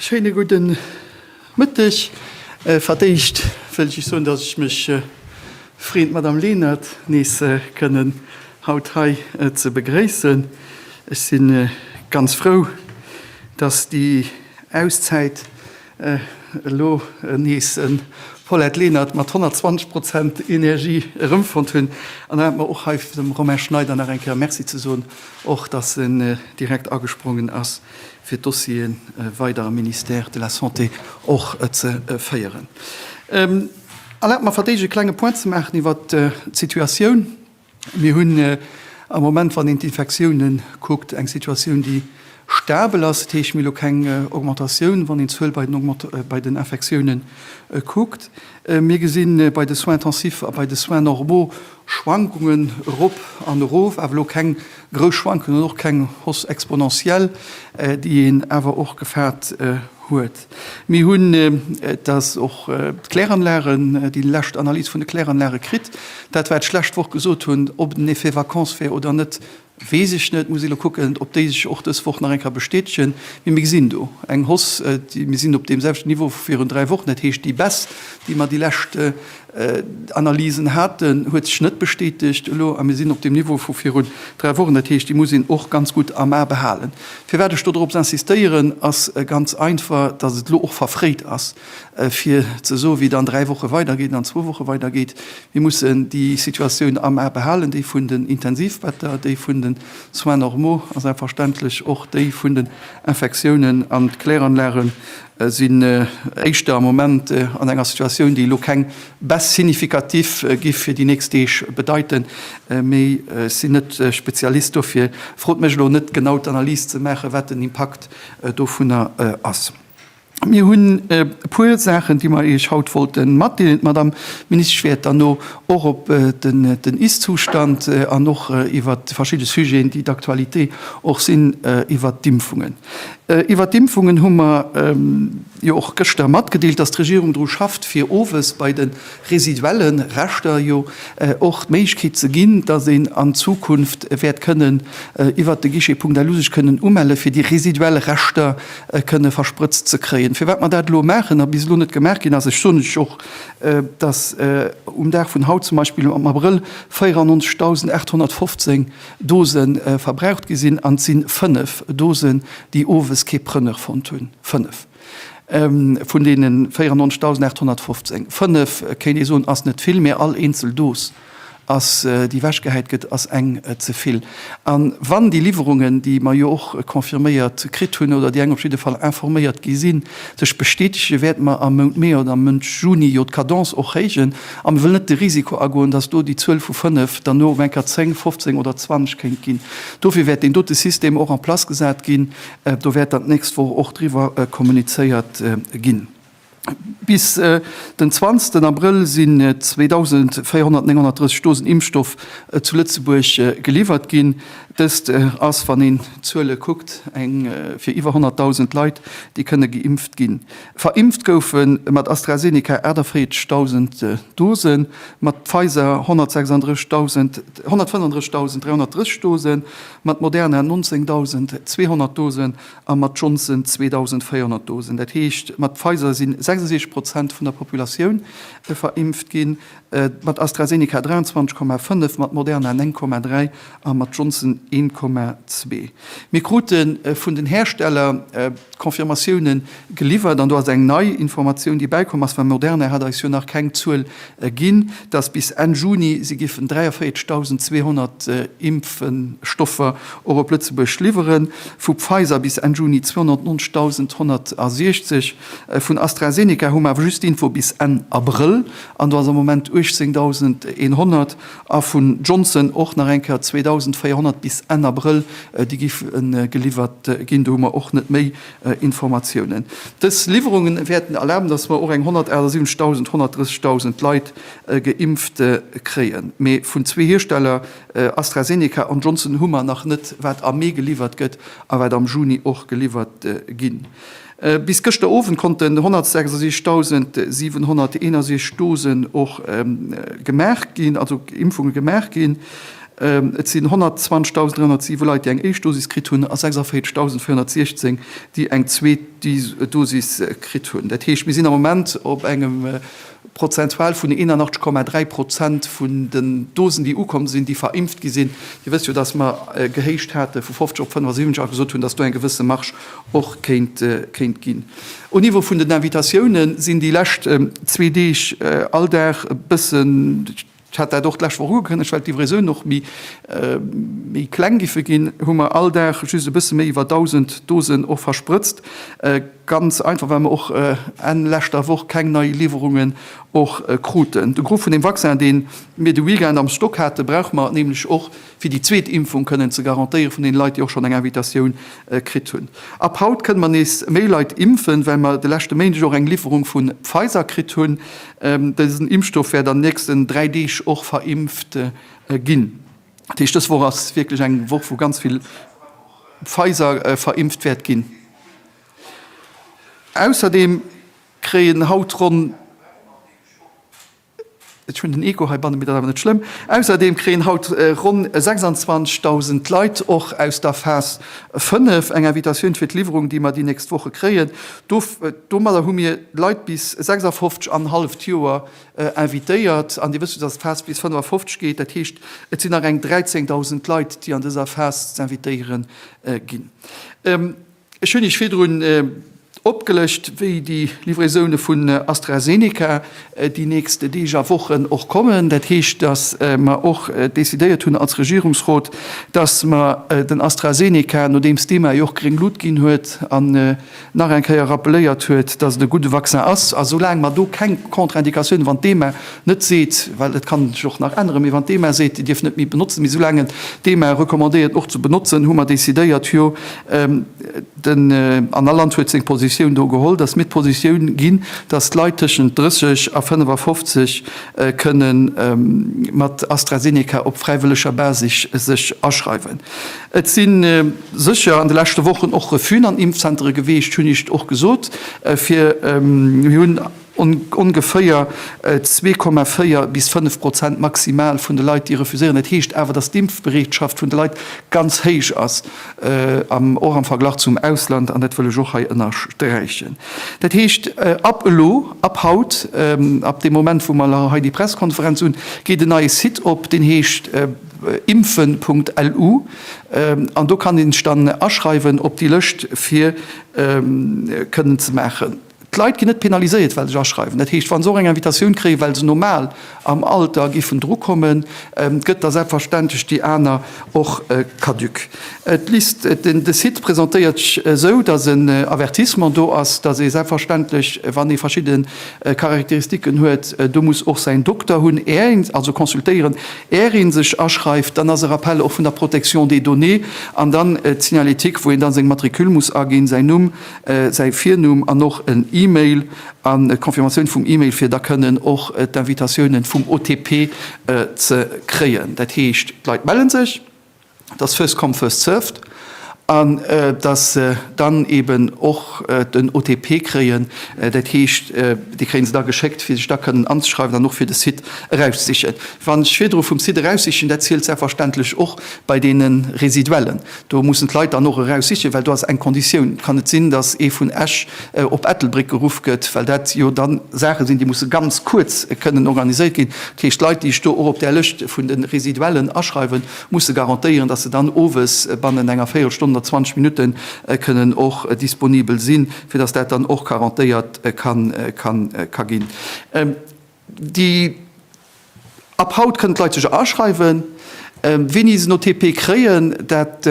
Schéine gudde Mëtteg. Fir d'éischt wëll ech iech soen, datt ech mech freen, d'Madame Lenert nees kënnen haut hei ze begréissen. Ech si ganz frou, datt déi Auszäit elo nees en Paulette Lenert mat 120 Prozent Energie erëmfonnt hunn. An erlaabt mer och hei dem Romain Schneider nach eng Kéier Merci ze soen, och datt en direkt agesprongen ass fir d'Dossiere weider am Ministère de la Santé och ze féieren. Erlaabt mer, verdeeg e klenge Point ze maachen iwwer d'Situatioun. Mir hunn am Moment, wann een d'Infektioune kuckt, eng Situatioun, déi stabel ass. Dat heescht, mir hu lo keng Augmentatioun, wann een d'Zuel bei den Infektiounen kuckt. Mir gesinn bei de Soins intensifs a bei de Soins normaux Schwankungen erop an erof, awer elo keng grouss Schwankungen an och keng Hausse exponentielle, déi een awer och gefaart huet. Mir hunn, dat ass och d'Kläranlagen, déi lescht Analys vun de Kläranlage kritt. Dat wat ech lescht Woch gesot hunn, ob et en Effet vacances wär oder net, Weess ech net, muss ee lo kucken, ob déi sech och dës Woch nach eng Kéier bestätegen. Mee mir gesinn do eng Hausse, déi, mir sinn op deem selwechten Niveau vu virun dräi Wochen. Dat heescht, déi Baisse, déi mer déi lescht Analysen haten, huet sech net bestätegt elo a mir sinn op deem Niveau vu virun dräi Wochen. Dat heescht, déi muss een och ganz gutt am A behalen. Firwat ech do drop insistéieren, ass ganz einfach, dass et elo och verfréit ass. fir ze soen, wéi et an dräi Woche weidergeet an an zwou Woche weidergeet. Mir mussen déi Situatioun am A behalen, déi vun den Intensivbetter, déi vun den Soins normaux a selbstverständlech och déi vun den Infektiounen. An d'Kläranlage sinn éischter am Moment an enger Situatioun, déi elo keng Baisse significative gi fir déi nächst Deeg bedeiten, mee ech sinn net Spezialist, dofir frot mech elo net, genau d'Analys ze maachen, wat den Impakt dovunner ass. Mir hunn e puer Saachen, déi mer Iech haut wollte matdeelen. D'Madame Ministesch wäert dann no och op den Ist-Zustand an och iwwer verschidde Sujeten, déi d'Aktualité och sinn, iwwer d'Impfungen. Iwwer d'Impfungen hu mer jo och gëschter matgedeelt, dass d'Regierung dru schafft, fir owes bei de residuelle Reschter jo och d'Méiglechkeet ze ginn, dass een an Zukunft wäert kënnen iwwert de Guichet Punkt Elu sech kënnen umelle fir déi residuell Reschter kënne versprëtzt ze kréien. Firwat mer dat elo maachen a bis elo net gemaach ginn ass, ech soen lech och, dass um Dag vun haut zum Beispill am Abrëll 94.815 Dose verbraucht gi sinn an et si fënnef Dosen, déi owes kee Preneur fonnt hunn, fënnef. Vun deene 94.815, fënnef kéint ee soen, ass net vill, mä all eenzel Dos, déi ewechgehäit gëtt, ass eng ze vill. A wann déi Liwwerungen, déi mer jo och confirméiert kritt hunn, oder déi eng op jidde Fall informéiert gi sinn, sech bestätegen, wäerte mer am Mount Mee oder am Mount Juni jo d'Cadence och héijen. A mir wëllen net de Risiko agoen, dass do déi Zuel vu fënnef dann no op eng Kéier zéng, fofzéng oder zwanzeg kéint ginn. Dofir wäert deen dote System och en place gesat ginn. Do wäert dann d'nächst Woch och driwwer kommunizéiert ginn. Bis den 20 Abrëll sinn 2.439 Dosen Impfstoff zu Lëtzebuerg geliwwert ginn. Dëst ass, wann een d'Zuele kuckt, eng fir iwwer 100.000 Leit, déi kënne geimpft ginn. Verimpft goufe mat AstraZeneca 48.000 Dosen, mat Pfizer 135.330 Dosen, Mat Moderna 19.200 Dosen a mat Johnson 2.400 Dosen, dat heescht mat Pfizer sinn 66 Prozent vun der Populatioun verimpft ginn, mat AstraZeneca 23,5, mat Moderna 9,3 a mat Johnson 1,2. Mir krute vun den Hersteller d'Confirmatioune geliwwert, an do ass eng nei Informatioun, déi bäikomm ass, well Moderna hat eis jo nach keng Zuel Ginn, datt bis Enn Juni si géifen 43.200 Impfstoffer och op Lëtzebuerg liwweren, vu Pfizer bis Enn Juni 290.160. Vun AstraZeneca hu mer awer just Info bis Enn Abrëll, an do ass am Moment 18.100, a vun Johnson och nach eng Kéier 2.400 bis Enn Abrëll, déi géife geliwwert ginn. Do hu mer och net méi Informatiounen. Dës Liwwerungen wäerten erlaben, dass mer och eng 178.000, 130.000 Leit geimpft kréien. Mee vun zwee Hiersteller, AstraZeneca an Johnson, hu mer nach net, wat am Mee geliwwert gëtt a wat am Juni och geliwwert ginn. Bis gëschter Owend konnten 166.761 Dosen och gemaach ginn, also Impfunge gemaach ginn. Et sinn 120.307 Leit, déi eng éischt Dosis kritt hunn, a 46.416, déi eng zweet Dosis kritt hunn. Dat heescht, mir sinn am Moment op engem prozentual vun 81,3 Prozent vun den Dosen, déi ukomm sinn, déi verimpft gi sinn. Dir wësst jo, datt mer gehéicht hate vu 50 op 75 a gesot hunn, datt do eng gewësse Marge och kéint ginn. Au Niveau vun den Invitatioune sinn déi lescht zwee Deeg all Dag e bëssen, Ech hat dat och d'lescht Woch ugekënnegt, well d'Livraisonen och méi kleng géife ginn, hu mer all Dag just e bësse méi iwwer 1.000 Dosen och versprëtzt. Ganz einfach, well mer och Enn leschter Woch keng nei Liwwerungen och kruten. De Gros vun deem Vaccin, dee mir de Weekend am Stock haten, brauche mer nämlech och fir déi zweet Impfung kënnen ze garantéieren, vun deene Leit, déi och schonn eng Invitatioun kritt hunn. Ab haut kënne mer nees méi Leit impfen, well mer de leschte Méindeg och eng Liwwerung vu Pfizer kritt hunn. Dësen Impfstoff wäert an den nächsten dräi Deeg och verimpft ginn. Dat heescht, dës Woch ass wierklech eng Woch, wou ganz vill Pfizer verimpft wäert ginn. Ausserdeem kréien haut ronn. Ech hunn den Echo heibanne, mee dat awer net schlëmm. Ausserdeem kréien haut ronn 26.000 Leit och aus der Phas 5 eng Invitatioun fir d'Liwwerung, déi mer déi nächst Woche kréien. Domadder hu mir Leit bis 56 an halleft Joer invitéiert. An Dir wësst jo, dass d'Phas bis 55 geet. Dat heescht, et sinn nach eng 13.000 Leit, déi an dëser Phas z'invitéiere ginn. Ech hunn Iech virdrun opgelëscht, wéi déi Livraisone vun AstraZeneca déi nächst Deeg a Wochen och kommen. Dat heescht, datt mer och decidéiert hunn als Regierungsrot, datt mer den AstraZeneca, nodeems d'EMA jo och gréng Lut ginn huet an nach eng Kéier rappeléiert huet, datt et e gudde Vaccin ass, a soulaang mer do keng Contre-Indicatiounen, wann d'EMA net seet, well et kann sech och nach änneren, mee wann d'EMA seet, dierf net méi benotzen, mee soulaang et d'EMA recommandéiert och ze benotzen, hu mer decidéiert, jo, Den Annaland huet seng Positioun do geholl, dass mir d'Positioun ginn, dass d'Leit tëschent 30 a 55 kënne mat AstraZeneca op fräiwëlleger Basis sech aschreiwen. Et si sécher an de leschte Wochen och Refusën an Impfzentere geweecht, hunn ech och gesot. Mir hunn. Ongeféier 2,4 bis 5 Prozent maximal vun de Leit, déi refuséieren. Dat heescht awer, datt d'Impfbereetschaft vun de Leit ganz héich ass, och am Verglach zum Ausland. An dat wëll ech och hei ënnersträichen. Dat heescht, ab elo, ab haut, ab deem Moment, wou mer hei déi Pressekonferenz hunn, geet en neie Site op, deen heescht impfen Punkt lu. An do kann ee sech dann aschreiwen op déi Lëscht, fir kënnen ze maachen. D'Leit ginn net penaliséiert, well se sech aschreiwen. Dat heescht, wa se och eng Invitatioun kréien, well se normal am Alter géifen dru kommen, gëtt da selbstverständlech déi aner och caduc. D'List, de Site presentéiert sech esou, datt en Avertissement do ass, datt ee selbstverständlech, wann ee verschidde Charakteristiken huet, do muss och säin Dokter hunn, är een also consultéieren, är ee sech aschreift. Dann ass e Rappel och vun der Protection des données an dann d'Signalétique, wou een da seng Matricule muss aginn, säin Numm, säi Virnumm an och en Email an d'Confirmatioun vum Email fir da kënnen och d'Invitatiounen vum OTP ze kréien. Dat heescht, d'Leit mellen sech, et ass first come first served an dass se dann eben och den OTP kréien. Dat heescht, dee kréie se da geschéckt fir sech da kënnen anzeschreiwen an och fir de Site erauszesichen. Wann ech virdru vum Site eraussichen, dat zielt selbstverständlech och bei deene Residuellen. Do mussen d'Leit dann och eraus sichen, well do ass eng Konditioun, et kann net sinn, datt ee vun Esch op Ettelbréck geruff gëtt, well dat jo da Saache sinn, déi musse ganz kuerz kënnen organiséiert ginn. Dat heescht, d'Leit, déi ech do och op där Lëscht vun de Residuellen aschreiwen, musse garantéieren, datt se dann owes bannen enger Véierelstonn oder 20 Minutte kënnen och disponibel sinn, fir datt dat dann och garantéiert ka ginn. Déi ab haut kënnen d'Leit sech aschreiwen. Wéini se no TP kréien, dat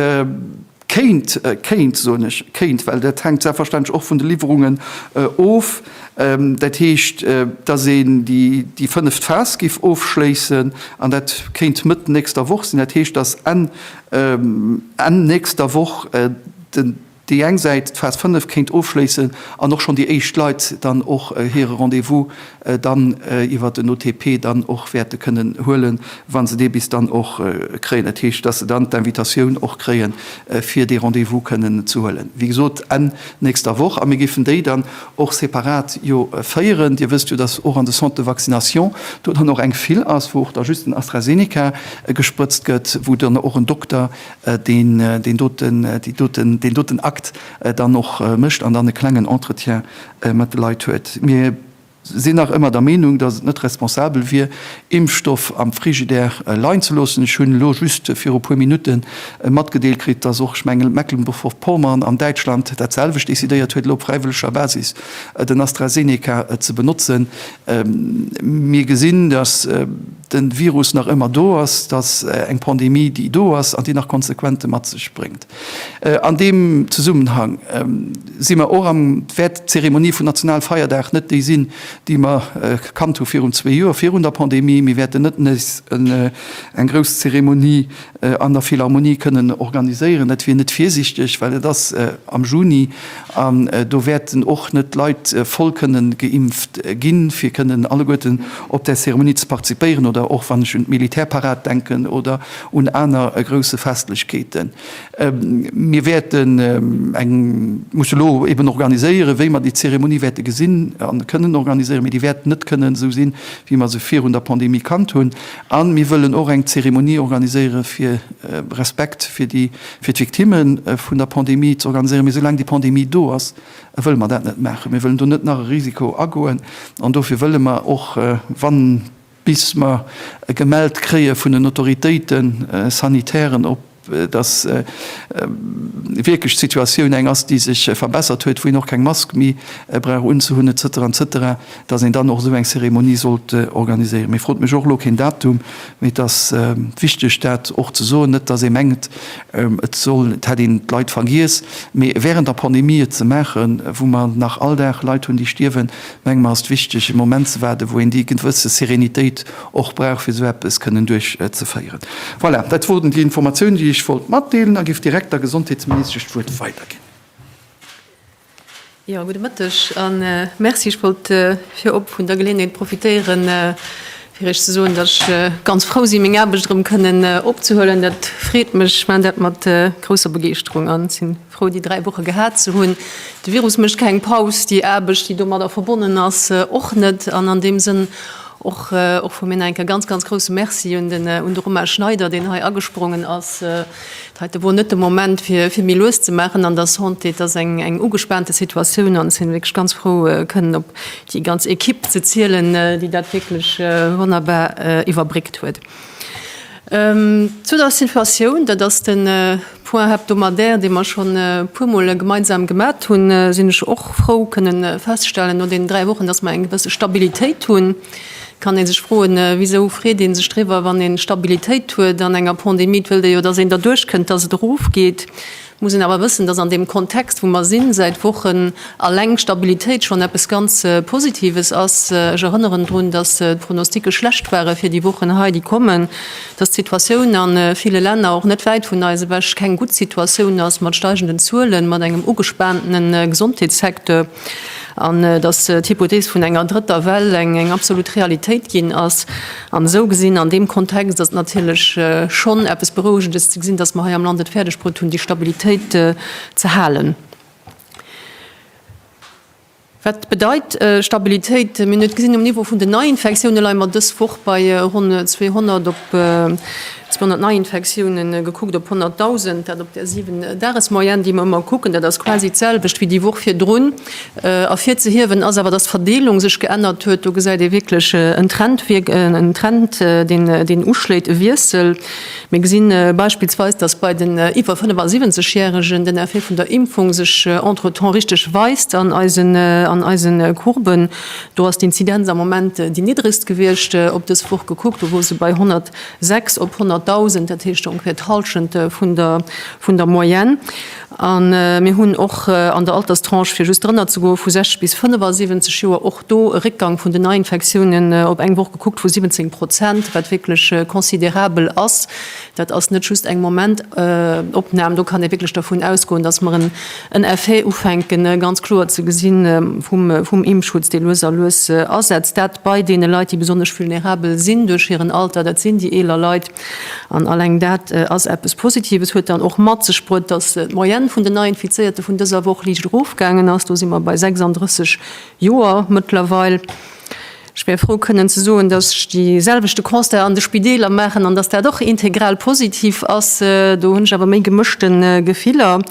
kéint, kéint soen ech, kéint, well dat hänkt selbstverständlech och vun de Liwwerungen of, dat heescht, dass een déi déi fënneft Phas géif ofschléissen an dat kéint Mëtt nächster Woch sinn. Dat heescht, dass Enn, Enn nächster Woch den, déi eng Säit d'Phase 5 kéint ofschléissen an och schonn déi éischt Leit dann och hire Rendez-vous dann iwwer den OTP dann och wäerte kënnen huelen, wa se dee bis dann och kréien. Dat heescht, dass se dann d'Invitatioun och kréie fir dee Rendez-vous kënnen ze huelen, wéi gesot, Enn nächster Woch. A mir géifen déi dann och separat jo féieren. Dir wësst jo, dass och an de Centres de vaccination do dann och eng Fil ass, wou och da just den AstraZeneca gesprëtzt gëtt, wou dann och en Dokter deen deen doten déi doten deen doten Akt dann och mécht an dann e klengen Entretien mat de Leit huet. Mir sinn nach ëmmer der Meenung, dass et net responsabel wier, Impfstoff am Frigidaire leien ze loossen. Ech hunn elo just viru puer Minutte matgedeelt kritt, dass och, ech mengen, Mecklenburg-Vorpommern an Däitschland dat selwecht decidéiert huet, elo op fräiwëlleger Basis den AstraZeneca ze benotzen. Mir gesinn, dass, de Virus nach ëmmer do ass, dass eng Pandemie, déi do ass an déi nach Konsequente mat sech bréngt. An deem Zesummenhang si mer och am, wäert d'Zeremonie vun Nationalfeierdag net déi sinn, déi mer gekannt hu virun zwee Joer, virun der Pandemie. Mir wäerten net nees eng grouss Zeremonie an der Philharmonie kënnen organiséieren. Dat wier net virsichteg, well et ass am Juni an do wäerten och net Leit voll kënnen geimpft ginn, fir kënnen alleguerten op där Zeremonie ze partizipéieren oder och wann ech un d'Militärparad denken oder un aner grousse Festlechkeeten. Mir wäerten eng musse lo eben organiséieren, wéi mer déi Zeremonie wäerte gesinn a kënnen organiséieren, mee déi wäert net kënnen esou sinn, wéi mer se virun der Pandemie kannt hunn. A mir wëllen och eng Zeremonie organiséiere fir Respekt fir déi, fir d'Victimme vun der Pandemie ze organiséieren. Mee soulaang déi Pandemie do ass, wëlle mer dat net maachen. Mir wëllen do net nach e Risiko agoen. An dofir wëlle mer och, wa bis mer gemellt kréie vun den Autoritéite sanitären, ob. dass wierklech d'Situatioun eng ass, déi sech verbessert huet, wou een och keng Mask méi brauch unzehunn, et cetera, et cetera, dass een dann och esou eng Cérémonie sollt organiséieren. Mir frot mech och elo keen Datum, mee et ass wichteg, dat och ze soen, net dass ee mengt, et soll, et hätt een d'Leit vergiess, mee während der Pandemie et ze maachen, wou mer nach all Dag Leit hunn, déi stierwen, Meng mer ass et wichteg e Moment ze waarden, wou een déi gewësse Serenitéit och brauch fir esou eppes kënnen duerchzeféieren. Voilà, dat woren déi Informatiounen déi ech wollt matdeelen a géif direkt der Gesondheetsministesch d'Wuert weiderginn. Jo, gudde Mëtteg a Merci. Ech wollt virop vun der Geleeënheet profitéieren Fir Iech ze soen, datt ech ganz frou sinn, meng Aarbecht erëm kënnen opzehuelen, dat freet mech. Ech maachen dat mat grousser Begeeschterung an si frou, déi dräi Woche gehat ze hunn. De Virus mécht keng Paus, déi Aarbecht, déi domadder verbonnen ass, och net. An an deem Sënn och vu mir nach eng Kéier ganz, ganz grousse Merci un de Romain Schneider, deen hei agesprongen ass, Et heite wor net de Moment, fir méi lues ze maachen an der Santé. Et ass eng ugespaante Situatioun an ech sinn wierklech ganz frou, kënnen op déi ganz Ekipp ze zielen, déi dat wierklech wonnerbar iwwerbréckt huet. Zu der Situatioun, dat ass de Point hebdomadaire, dee mer schonn e puermol gemeinsam gemat hunn, sinn ech och frou kënnen feststellen, no deenen dräi Wochen, dass mer eng gewësse Stabilitéit hunn. Kann ee sech froen, Wisou freet ee sech driwwer, wann ee Stabilitéit huet an enger Pandemie? Et wëllt ee jo, dass een derduerch kënnt, dass et erofgeet. Muss een awer wëssen, dass an deem Kontext, wou mer sinn, säit Wochen alleng Stabilitéit schonn eppes ganz Positives ass. Ech erënneren drun, dass d'Pronostike schlecht ware fir déi Wochen hei, déi kommen, dass d'Situatioun a ville Länner, och net wäit vun eis ewech, keng gutt Situatioun ass, mat steigenden Zuelen, mat engem ugespaanten Gesondheetssecteur. an dass d'Hypothees vun enger drëtter Well eng absolut Realitéit ginn ass. An esou gesinn, an deem Kontext ass et natierlech schonn eppes Berouegendes ze gesinn, dass mer hei am Land et fäerdegbruet hunn, déi Stabilitéit ze halen. Wat bedeit Stabilitéit? Mir hunn et gesinn um Niveau vun den Neiinfektiounen, leie mer dës Woch bei ronn 200 op 200 Neiinfektioune gekuckt op 100.000, dat op der 7 Dagesmoyenne, déi mer ëmmer kucken. Dat ass quasi d'selwecht wéi déi Woch virdrun. Ervirzehiewen ass awer, datt d'Verdeelung sech geännert huet. Do gesäit ee wierklech en Trend, en Trend, deen uschléit, e Wiessel. Mir gesi beispillsweis, datt bei den iwwer 75 Järegen den Effet vun der Impfung sech entretemps richteg weist an eisen, an eise Courben. Do ass d'Inzidenz am Moment déi niddregst gewiescht op dës Woch gekuckt, do wor se bei 100. Sechs op 100.000, dat heescht ongeféier d'Hallschent vun der Moyenne. A mir hunn och an der Alterstranche, fir just drënner ze goen, vu 60 bis 75 Joer, och do e Réckgang vun den Neiinfektiounen op eng Woch gekuckt vu 17 Prozent, wat wierklech considerabel ass. Dat ass net just eng Momentopnam. Do kann ee wierklech dervun ausgoen, dass mer En Effet ufänken ganz kloer ze gesi vum Impfschutz, dee lues a lues asetzt. Dat bei deene Leit, déi besonnesch vulnerabel sinn duerch hiren Alter, dat sinn déi eeler Leit. An alleng dat ass eppes Positives. Huet dann och mat sech bruet, datt d'Moyenne vun den Neiinfizéierte vun dëser Woch liicht erofgaangen ass. Do si mer bei 36 Joer mëttlerweil. Ech wär frou kënnen ze soen, dass ech dee selwechte Constat an de Spideeler maachen an dass dat och integral positiv ass. Do hunn ech awer méi gemëschte Gefiller.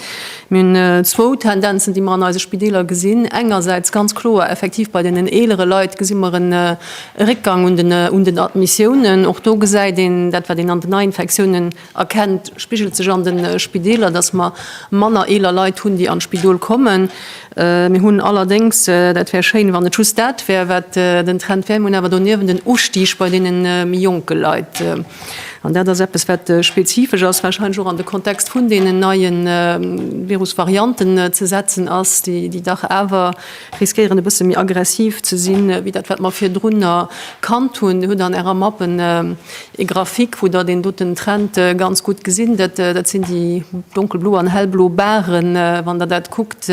Mir hunn zwou Tendenzen, déi mer an eise Spideeler gesinn. Engersäits ganz kloer effektiv bei deenen eelere Leit gesi mer en Réckgang un den Admissiounen. Och do gesäit een dat, wat een an den Neiinfektiounen, Erkennt, spigelt sech an de Spideeler, dass mer manner eeler Leit hunn, déi an d'Spidol kommen. Mir hunn allerdéngs, dat wär schéin, wann et just dat wär, wat den Trend wär, mir hunn awer doniewent en Ustig bei deene méi jonke Leit. An dat ass eppes, wat spezifesch ass, warscheinlech och an de Kontext vun deenen neie Virusvarianten ze setzen ass, déi dach awer riskéieren, e bësse méi aggressiv ze sinn, wéi dat, wat mer virdrunner kannt hunn. Dir hutt an Ärer Mappen Ee Graphique, wou der deen doten Trend ganz gutt gesinn. Dat sinn déi donkelblo an hellblo Barren, wann der dat kuckt,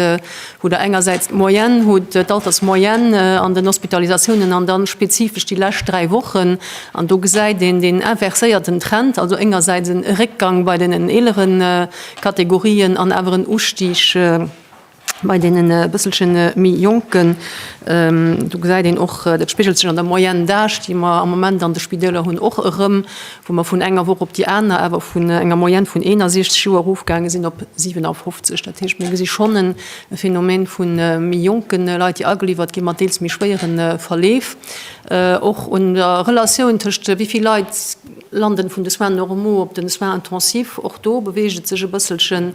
wou der engersäits d'Moyenne hutt, d'Altersmoyenne an den Hospitalisatiounen an dann spezifesch déi lescht dräi Wochen. An do gesäit een deen inverséierten Trend, also engersäits en Réckgang bei deenen eeleren Kategorien an awer en Ustig, Bei deenen e bësselche méi Jonken, do gesäit een och, dat spigelt sech an der Moyenne d'Age, déi mer am Moment an de Spidäler hunn, och erëm, wou mer vun enger Woch op déi aner awer vun enger Moyenne vun 61 Joer erofgaange sinn op 57. Dat heescht, mir gesi schonn e Phänomen vu méi jonke Leit, déi ageliwwert gi mat deels méi schwéiere Verleef. Och un der Relatioun tëscht wéi vill Leit lande vun de Soins normaux op de Soins intensifs, och do beweegt et sech e bësselchen.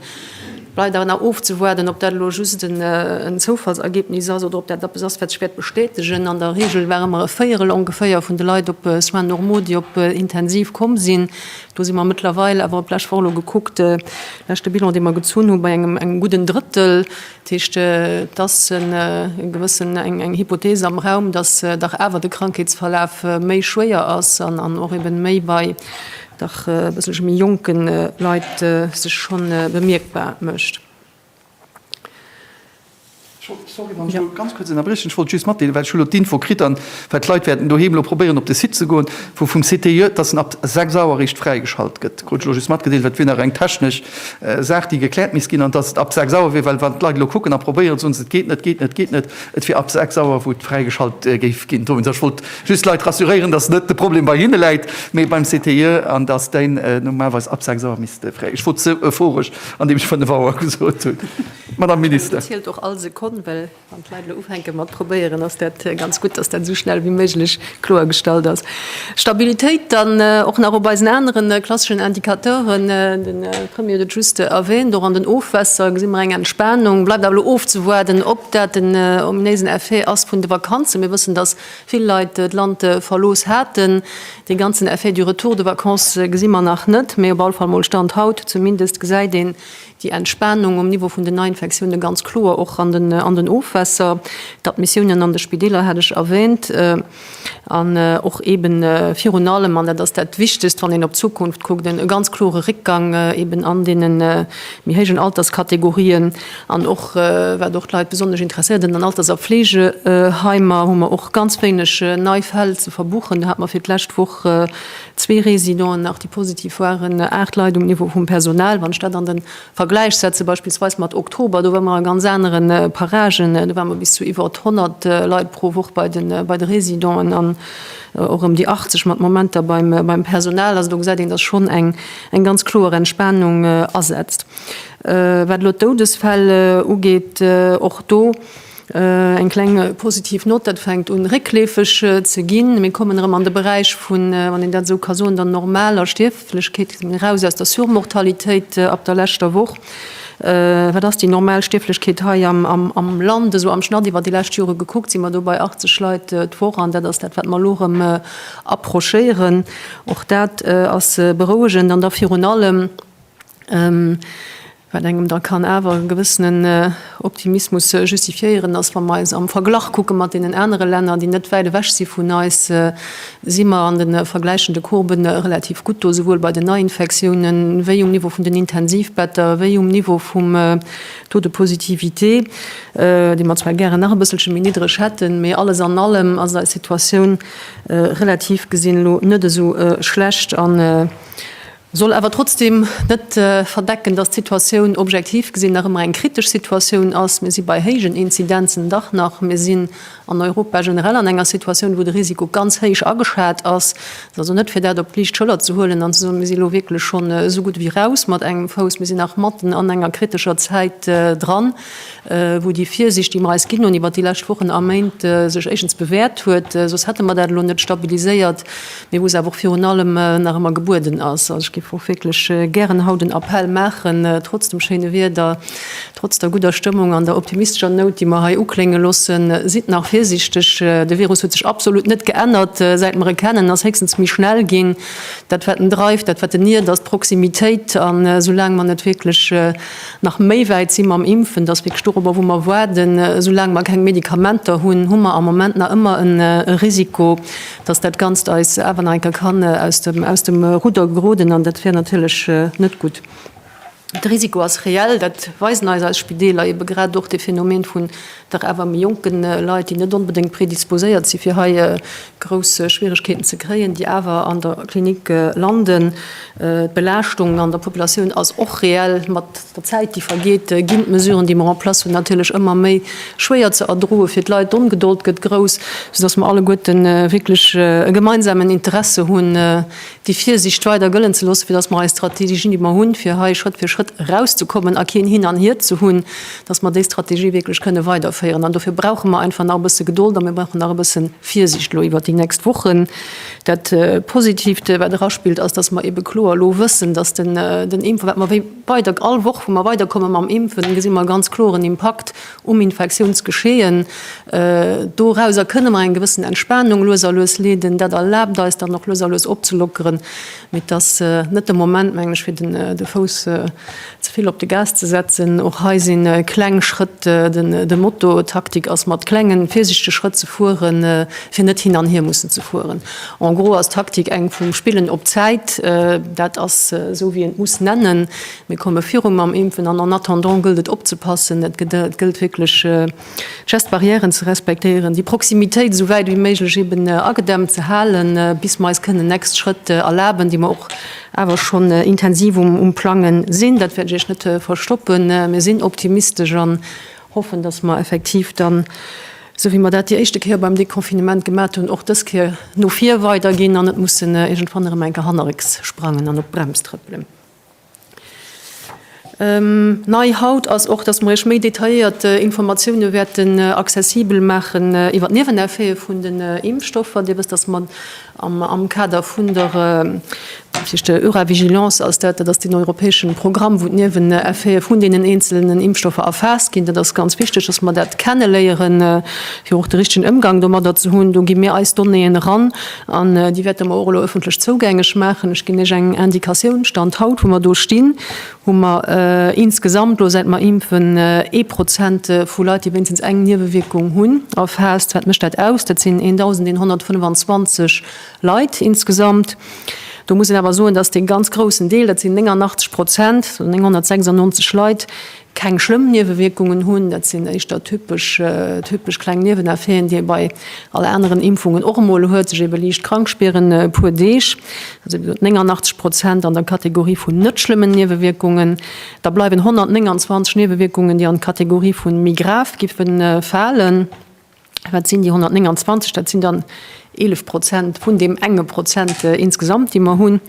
Bleift awer nach ofzewuarden, ob dat elo just en Zoufallsergebnis ass oder ob dat eppes ass, wat sech wäert bestätegen. An der Reegel ware mer e Véierel ongeféier vun de Leit op Soins normaux, déi op intensiv komm sinn. Do si mer mëttlerweil awer, op d'lescht Woch elo gekuckt, leschte Bilan, dee mer gezunn hunn, bei engem gudden Drëttel. Dat heescht, et ass e gewëssen, eng Hypothese am Raum, dass dach awer de Krankheetsverlaf méi schwéier ass an och ebe méi bei dach e bësselche méi jonke Leit sech scho bemierkbar mécht. Sorry, wann ech elo ganz kuerz ënnerbriechen. Ech wollt just matdeelen, well ech hu elo d'Info kritt, an well d'Leit wäerten doheem elo probéieren, op de Site ze goen vu vum CTIE, dass en ab 6 Auer eréischt fräigeschalt gëtt. Krut ech elo just matgedeelt, well et wier nach eng technesch Saach, déi gekläert misst ginn, an dass et ab 6 Auer wier, well wann d'Leit elo kucken a probéieren, soen se, et geet net, et geet net, et geet net, et wier ab 6 Auer, wou et fräigeschalt géif ginn. Dowéinst, ech wollt Just d'Leit rassuréieren, dass net de Problem bei hinne läit, mee beim CTIE an dass deen normalerweis ab sechs Auer misst fräi. Ech wor ze euphorisch, andeem ech fënnef Auer gesot hunn, Madame Minister. Dat zielt och all Sekonn, well wann d'Leit elo ufänke mat probéieren, ass dat ganz gutt, dass dat esou schnell wéi méiglech kloergestallt ass. Stabilitéit dann och nach op eisen anere klasseschen Indicateuren. De Premier huet et just erwähnt, och an den Ofwässer gesi mer eng Entspanung. Bleift awer elo ofzewaarden, ob dat den ominéisen Effet ass vun de Vakanzen. Mir wëssen, dass vill Leit d'Land verlooss haten. Dee ganzen Effet du retour de vacances gesi mer nach net, mee op all Fall mol Stand haut zumindest gesäit een déi Entspanung um Niveau vun den Neiinfektioune ganz kloer och an den Ofwässer. D'Admissiounen an de Spideeler hat ech erwäänt an och eeben virun allem, an dat ass dat Wichtegst wann een op d'Zukunft kuckt, e ganz klore Réckgang eeben an deene méi héijen Alterskategorien. An och wat och d'Leit besonnesch interesséiert, an den Alters a Fleegeheimer hu mer och ganz wéineg nei Fäll ze verbuchen. Do hate mer fir d'lescht Woch zwee Residenten nach, déi positiv waren, aacht Leit um Niveau vum Personal. Wann ech dat an de Vergläich setze beispillsweis mat Oktober, do ware mer a ganz anere Paragen, do ware mer bis zu iwwert 100 Leit pro Woch bei de Residenten an och ëm déi 80 mat Momenter beim Personal. Also do gesäit een, dass schonn eng ganz kloer Entspanung asetzt. Wat elo d'Doudesfäll ugeet, och do eng kleng positiv Nott, dat fänkt un réckleefeg ze ginn. Mir kommen erëm an de Beräich vun, wann een dat esou ka soen, der normaler Stierflechkeet, eraus aus der Surmortalitéit ab der leschter Woch. Wat ass déi normal Stierflechkeet hei am Land? Esou am Schnatt iwwer déi lescht Jore gekuckt si mer do bei 80 Leit d'Woch an dat ass dat, wat mer elo erëm approchéieren. Och dat ass berouegend an da virun allem, Wat engem da kann awer e gewëssenen Optimismus justifiéieren, ass wa mer eis am Verglach kucke mat deenen anere Länner, déi net wäit ewech si vun eis, si mer an de vergläichende Courbe relativ gutt do, souwuel bei den Neiinfektiounen, wéi um Niveau vun den Intensivbetter, wéi um Niveau vum Taux de positivité, dee mer zwar gären nach e bësselche méi niddreg hätten. Mee alles an allem ass eis Situatioun relativ gesinn elo net esou schlecht. soll awer trotzdem net verdecken, dass d'Situatioun objektiv gesinn nach ëmmer eng kritesch Situatioun ass. Mir si bei héijen Inzidenzen dach nach. Mir sinn an Europa generell an enger Situatioun, wou de Risiko ganz héich ageschat ass. Et ass also net, fir dat op d'liicht Schëller ze huelen an ze soen, Mir si lo wierklech schonn esou gutt ewéi raus mat engem Fouss. Mir sinn nach matten an enger kritescher Zäit dran. wou déi Virsicht, déi mer eis ginn hunn iwwert déi lescht Wochen a Méint, sech éischtens bewäert huet, soss hätte mer dat elo net stabiliséiert, mee wou se awer och virun allem nach ëmmer gebueden ass. Also ech géif och wierklech gären haut en Appell maachen, trotz dem schéine Wieder, trotz der gudder Stëmmung an der optimistescher Nout, déi mer hei uklénge loossen, Sidd nach virsichteg! De Virus huet sech absolut net geännert, säit mer e kennen, en ass héchstens méi schnell ginn. Dat, wat en dreift, dat, wat en iert, ass d'Proximitéit. An esoulaang mer net wierklech, Nach méi wäit si mam Impfen, dass wierklech dorobber, wou mer waarden. Soulaang mer keng Medikamenter hunn, hu mer am Moment nach ëmmer e Risiko, dass dat Ganzt eis awer nach eng Kéier kann aus dem Rudder geroden, an dat wär natierlech net gutt. De Risiko ass reell, dat weisen eis eis Spideeler, ebe grad och de Phänomen vun Dach awer méi jonken Leit, déi net onbedéngt predisposéiert si fir hei grouss Schwieregkeeten ze kréien, déi awer an der Klinik landen. D'Belaaschtung an der Populatioun ass och reell. Mat der Zäit, déi vergeet, ginn d'Mesuren, déi mer en place hunn, natierlech ëmmer méi schwéier ze erdroen fir d'Leit. D'Ongedold gëtt grouss, soudass mer alleguerten wierklech e gemeinsamen Interesse hunn, déi Virsiicht weider gëllen ze loossen, fir dass mer eis Strategien, déi mer hunn, fir hei Schrëtt fir Schrëtt erauszekommen a keen Hin an Hier ze hunn, dass mer déi Strategie wierklech kënne weiderféieren. An dofir brauche mer einfach nach e bësse Gedold a mir brauchen nach e bësse Virsiicht elo iwwert déi nächst Wochen. Dat Positivt, wat eraspillt, ass, dass mer eebe kloer elo wëssen, dass den Impf, wat mer wéi weider all Woch, wou mer weiderkomme mam Impfen, gesi mer e ganz kloren Impakt, um Infektiounsgeschehen. Dorauser kënne mer eng gewëssen Entspanung lues a lues leeden. Dat erlaabt eis dann och lues a lues opzelockeren. Mee et ass net de Moment, mengen ech, fir de Fouss ze vill op de Gas ze setzen. Och hei si kleng Schrëtt de Motto. D'Taktik ass, mat klenge virsichtege Schrëtt ze fueren, fir net hin an hier mussen ze fueren. En gros ass d'Taktik eng vum Spillen op d'Zäit. Dat ass esou, wéi een d'muss nennen. Mir komme viru mam Impfen an en attendant gëllt et opzepassen, et gëllt wierklech d'Geste-barrièren ze respektéieren, déi Proximitéit esou wäit wéi méiglech eeben agedämmt ze halen, bis mer eis kënnen next Schrëtt erlaben, déi mer och awer schonn intensiv um Plange sinn. Dat wäert ech Iech net verstoppen. Mir sinn optimistesch an hoffen, dass mer effektiv dann, esou wéi mer dat déi éischte Kéier beim Deconfinement gemat hunn, och dës Kéier no vir weiderginn an net mussen iergendwann erëm eng Kéier hannerrécks sprangen an op d'Brems trëppelen. Nei haut ass och, dass mer Iech méi detailléiert Informatiounen wäerten accessibel maachen iwwer d'Nieweneffete vun den Impfstoffer. Dir wësst, dass mer am Kader vun der, dat heescht der Euravigilance ass dat, dat ass deen europäeschen Programm, wou d'Nieweneffete vun deenen eenzelnen Impfstoffer erfaasst ginn, dat ass ganz wichteg, dass mer dat kenneléieren, fir och de richtegen Ëmgang domadder ze hunn. Do gi mir eis Donnéeën eran. An déi wäerte mer och elo ëffentlech zougängeg maachen. Ech ginn Iech eng Indikatioun, Stand haut, wou mer do stinn, hu mer insgesamt elo, säit mer impfen, ee Prozent vu Leit, déi wéinstens eng Niewewierkung hunn, erfaasst. Wat mécht dat aus? Dat sinn 1.125 Leit insgesamt. Do muss een awer soen, dass dee ganz groussen Deel, dat sinn 89 Prozent, 996 Leit, keng schlëmm Niewewierkungen hunn. Dat sinn éischter typesch typesch kleng Nieweneffeten, déi ee bei all aneren Impfungen och emol huet, sech eebe liicht krank spieren e puer Deeg, dat si gesot 89 Prozent an der Kategorie vun net schlëmmen Niewewierkungen. Da bleiwen 129 Niewewierkungen, déi an d'Kategorie vu méi grav giffen falen. Wat sinn déi 129? Dat sinn dann 11 Prozent vun deem enge Prozent insgesamt, dee mer hunn.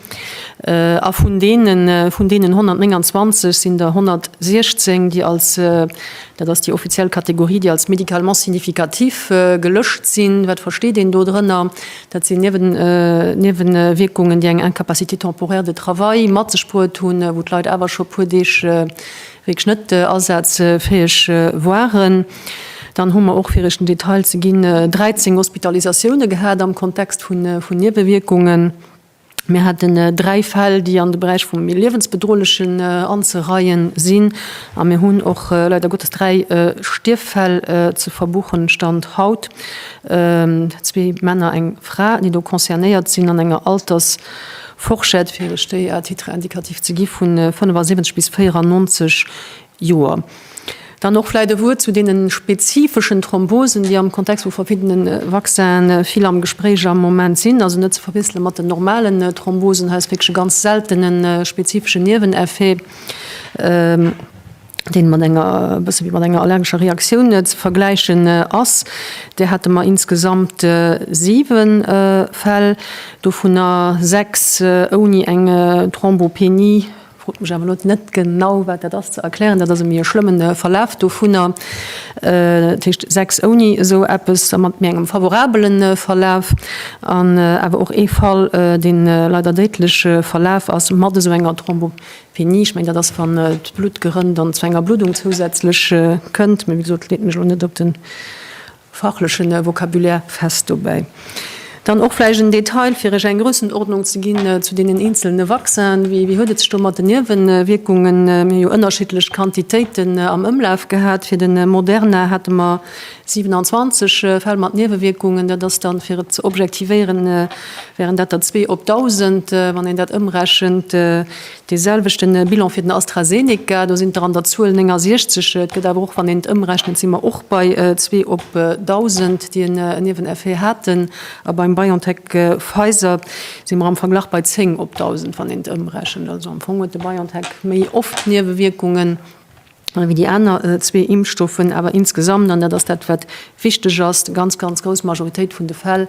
A vun deenen, vun deenen 129 sinn der 116, déi als, dat ass déi offiziell Kategorie, déi als médicalement significatif gelëscht sinn. Wat versteet een do drënner? Dat sinn Niewen, Niewewierkungen, déi eng Incapacité temporaire de travail mat sech bruet hunn, wou d'Leit awer scho e puer Deeg, wierklech net asazfäeg waren. Dann hu mer och, fir Iech den Detail ze ginn, 13 Hospitalisatioune gehat am Kontext vun Niewewierkungen. Mir haten dräi Fäll, déi an de Beräich vum méi liewensbedrohlechen anzereien sinn. A mir hunn och leider Gottes dräi Stierffäll ze verbuchen, Stand haut, zwee Männer, eng Fra, déi do concernéiert sinn an enger Alters Fourchette, fir ech déi à titre indicatif ze gi, vun 75 bis 94 Joer. Dann och vläicht e Wuert zu deene spezifeschen Thrombosen, déi am Kontext vu verschiddene Vaccine vill am Gespréich am Moment sinn, also net ze verwiessele mat den normalen Thrombosen. Hei ass wierklech e ganz seltene spezifesche Nieweneffet. deen mat enger, e bësse wéi mat enger allergescher Reaktioun ze vergläichen ass. Där hate mer insgesamt 7 Fäll, dovunner 6 ouni eng Thrombopenie. Frot mech awer elo net genau, wat dat ass, ze erklären. Dat ass e méi e schlëmmen Verlaf dovunner. Dat heescht 6 ouni esou eppes a mat méi engem favorabele Verlaf. An awer och ee Fall, dee leider déidlech verlaf ass mat esou enger Thrombopenie. Wéini? Ech mengen, dat ass, wann d'Blutt gerënnt dann zu enger Bluddung zousätzlech kënnt. Mee wéi gesot, leet mech elo net op de fachleche Vocabulaire fest dobäi. Dann och vläicht en Detail, fir Iech eng Groussendordnung ze ginn zu deenen eenzelne Vaccinen, Wéi huet et sech do mat den Niewewierkungen? Mir hu jo ënnerschiddlech Quantitéiten am Ëmlaf gehat. Fir de Moderna hate mer 27 Fäll mat Niewewierkungen, dat ass dann, fir et ze objektivéieren, wären dat der zwee op dausend, wann een dat ëmrechent, dee selwechte Bilan fir den AstraZeneca, do sinn der an der Zuel 69. Et gëtt awer och, wann een et ëmrechnet, si mer och bei zwee op dausend, déi en Nieweneffet haten, a beim BioNTech-Pfizer si mer am Verglach bei zéng op dausend, wann een et ëmrechent. Also am Fong huet de BioNTech méi oft Niewewierkungen. ewéi déi aner zwee Impfstoffen, awer insgesamt, an dat ass dat wat wichteg ass, déi ganz, ganz grouss Majoritéit vun de Fäll